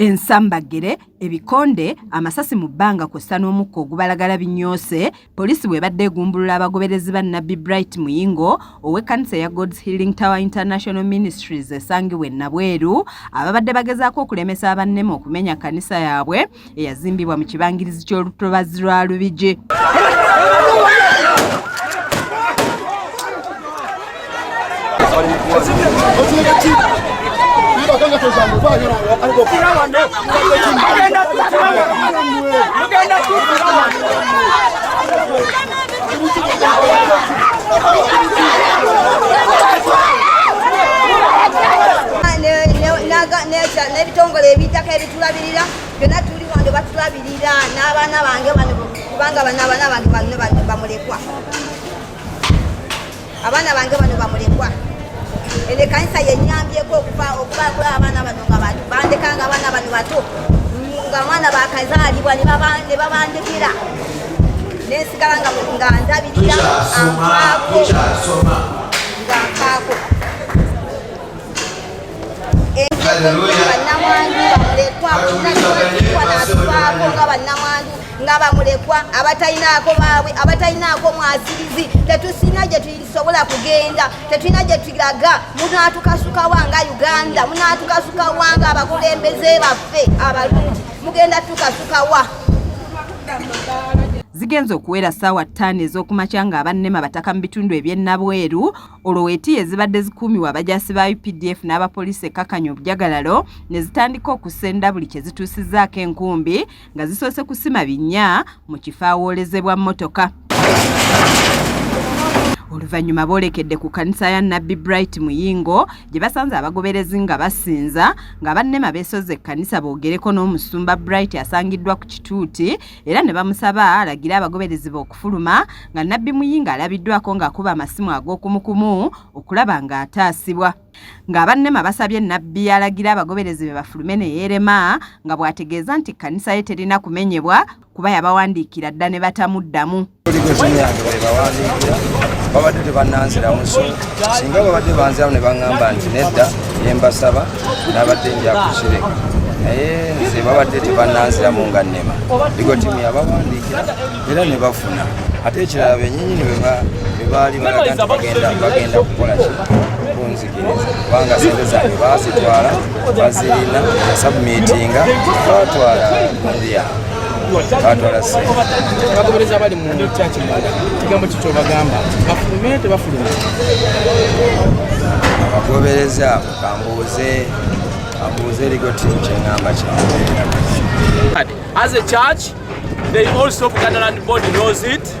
ensambaggere ebikonde amasasi mu bbanga kw'ossa n'omukka ogubalagala binyoose poliisi bw'ebadde egumbulula abagoberezi ba nabbi bright muyingo ow'ekkanisa eya god's healing tower international ministries esangibwa ennabweru ababadde bagezaako okulemesa abannema okumenya kkanisa yaabwe eyazimbibwa mu kibangirizi ky'olutobazi lwa Lubigi. n'ebitongole ebitaka ebitulabirira byonna tuli wano batulabirira n'abaana bange bano kubanga bano abaana bange bano bamulekwa abaana bange bano bamulekwa eno ekanisa yenyambyeko okuba kula abaana bano nga bantu bandeka nga abaana bano bato nga mwana bakazaalibwa ne babandekera nensigala nga ndabirira ankaako nga nkaako nga bamulekwa abatalinaako baabwe abatalinaako mwasirizi tetusina gye tusobola kugenda tetulina gye tulaga munatukasukawa nga uganda munatukasukawa nga abakulembeze baffe abalungi mugenda tukasukawa zigenze okuwera saawa ttaano ez'okumakya ng'abannema bataka mu bitundu eby'ennabweru olwo weetiya ezibadde zikuumibwa abajaasi ba updf n'abapoliisi ekkakanya obujagalalo ne zitandika okusenda buli kye zituusizzaako enkumbi nga zisoose kusima binnya mu kifo awoolezebwa mmotoka oluvannyuma boolekedde ku kkanisa ya nabbi bright muyingo gye basanze abagoberezi nga basinza nga bannema beesozza ekkanisa boogereko n'omusumba bright asangiddwa ku kituuti era ne bamusaba alagire abagoberezi be okufuluma nga nabbi muyinga alabiddwako ng'akuba amasimu ag'okumukumu okulaba ng'ataasibwa ng'abannema basabye nabbi alagira abagoberezi be bafulume ne yeerema nga bw'ategeeza nti kkanisa ye terina kumenyebwa kuba yabawandiikira dda ne batamuddamu babadde tebananziramu so singa babadde banziramu ne baŋŋamba nti nedda ne mbasaba nabadde njakukireka naye nze babadde tebananziramu nga nnema ligotimu yabawandiikira era ne bafuna ate ekirala benyinyini bebaali balaga nti bagenda kukola ki kubanga sente zange baasitwala bazirina sabumitinga batwala ndia batwala sente abagoberezi abali mu kyaki munda kigambo kikyo bagamba bafulume tebafulume abagoberezi abo kambuuze kambuuze erigo timu kyeŋamba kyamu as a church they also buganda land board knows it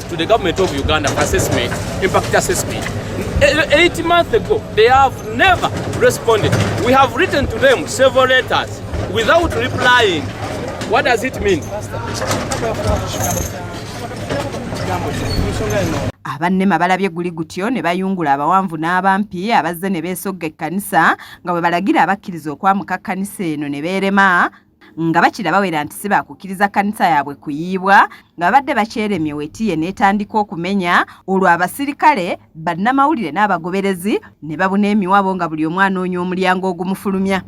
to the government of Uganda assessment, impact assessment. Eight months ago, they have never responded. We have written to them several letters without replying. What does it mean? abannema balabye guli gutyo ne bayungula abawanvu n'abampi abazze ne beesogga ekkanisa nga bwe balagira abakkiriza okwamuka kkanisa eno ne beerema nga bakira bawera nti si baakukkiriza kkanisa yaabwe kuyiibwa nga babadde bakyeremye wetiye n'etandika okumenya olwo abasirikale bannamawulire n'abagoberezi ne babuna emiwabo nga buli omu anoonya omulyango ogumufulumya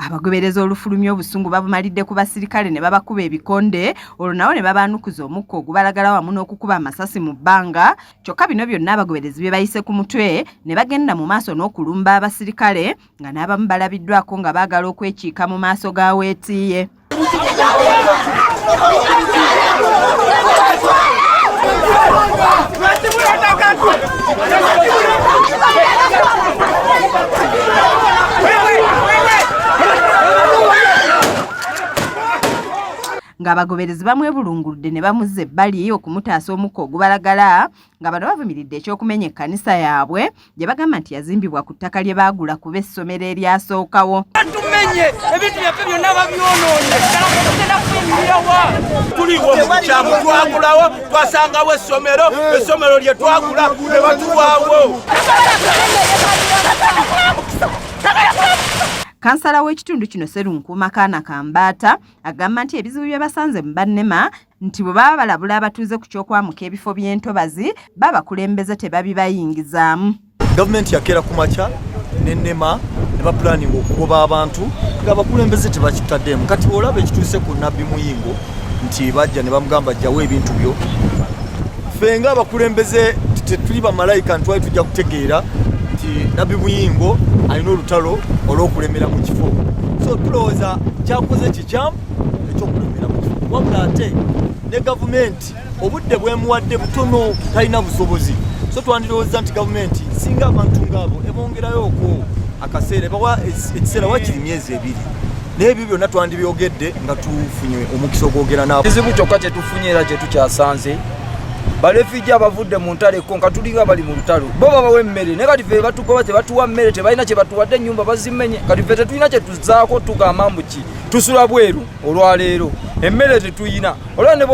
abagobereza olufulumya obusungu babumalidde ku basirikale ne babakuba ebikonde olwo nabo ne babaanukuza omukka ogubalagala wamu n'okukuba amasasi mu bbanga kyokka bino byonna abagoberezi bye bayise ku mutwe ne bagenda mu maaso n'okulumba abasirikale nga n'abamu balabiddwako nga baagala okwekiika mu maaso ga weetiiye ng'abagoberezi bamwebulunguludde ne bamuzza ebbali okumutaasa omukka ogubalagala nga bano bavumiridde ekyokumenya ekkanisa yaabwe gye bagamba nti yazimbibwa ku ttaka lye baagula kuba essomero eryasookawo tumenye ebintu byaffe byonna babyonoonye tuliwo mukyamu twagulawo twasangawo essomero essomero lye twagula ne batuwawo Kansala w'ekitundu kino Serunkuuma Kaana Kambaata agamba nti ebizibu bye basanze mu bannema nti bwe baba balabula abatuuze ku ky'okwamuka ebifo by'entobazi babakulembeze tebabibayingizaamu. Gavumenti yakeera ku makya n'ennema ne bapulaninga okugoba abantu ng'abakulembeze tebakitaddeemu. Kati bw'olaba ekituuse ku Nabbi Muyingo nti bajja ne bamugamba jjawo ebintu byo Ffe nga abakulembeze tetuli bamalayika ntwali tujja kutegeera nti nabbi muyingo alina olutalo olw'okulemera mu kifo so tulowooza kyakoze kikyamu ekyokulemera mu kifo wabula ate ne gavumenti obudde bwemuwadde butono talina busobozi so twandirowooza nti gavumenti singa abantu ngaabo ebongerayo okwo akaseera bawa ekiseera wakiri myezi ebiri naye ebyo byonna twandibyogedde nga tufunye omukisa ogwogera nabo kizibu kyokka kyetufunye era kyetukyasanze balefiji abavudde mu ntalo ekko nga tulinga bali mu lutalo bo babawa emmere naye kati fe batugoba tebatuwa mmere tebalina kyebatuwadde ennyumba bazimenye kati fe tetulina kyetuzaako tugamba mbuki tusula bweru olwaleero emmere tetuyina olaba ne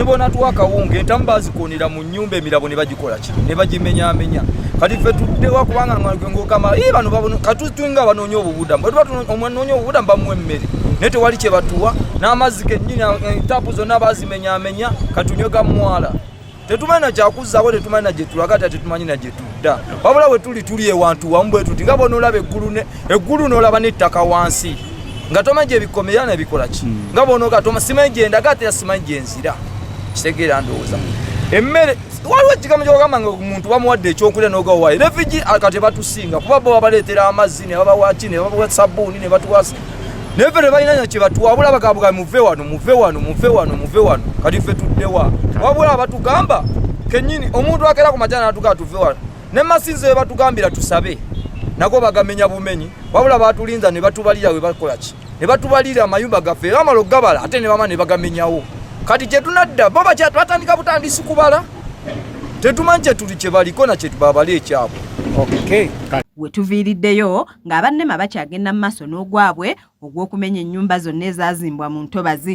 bonatuwa akawunga entamu bazikunira mu nyumba emirabo ne bagikola ki ne bagimenyamenya kati ffe tuddewa kubanga ngogamba i bano katutunga banoonya obubudamu bwetuba omwanoonya obubudamu bamuwa emmere naye tewali kye batuwa n'amazzi kennyini eh, tapu zonna bazimenyamenya katunywega mwala tetumanyi na kyakuzzako tetumanyi na gyetulaga ate tetumanyi na gyetudda wabula bwe tuli tuli ewantu wamu bwe tuti nga bonoolaba eggulu eggulu noolaba n'ettaka wansi nga tomanyi gyebikomera nebikola ki hmm. nga bonoga toma simanyi gyendaga ate yasimanyi gyenzira kitegeera ndowooza emmere waliwo ekigambo kyogamba nga omuntu bamuwadde ekyokulya nogawayo refugee akate batusinga kuba bo babaleetera amazzi ne babawaki ne babawa sabbuuni ne batuwasa naye ffe tebalina nyo kyebatu wabula bagabuga muve wano muve wano muve wano muve wano kati ffe tuddewa wabula batugamba kenyini omuntu akera ku majana natugaa tuve wano ne masinzi webatugambira tusabe nago bagamenya bumenyi wabula batulinza ne batubalira webakola ki ne batubalira amayumba gaffe era amala okugabala ate ne bama ne bagamenyawo kati kyetunadda bo batandika butandisi kubala tetumanyi kyetuli kyebaliko na kyetubabala ekyabwe okay. wetuviiriddeyo ng'aba nema bakyagenda mu maaso n'ogwabwe ogw'okumenya ennyumba zonna ezaazimbwa mu ntobazi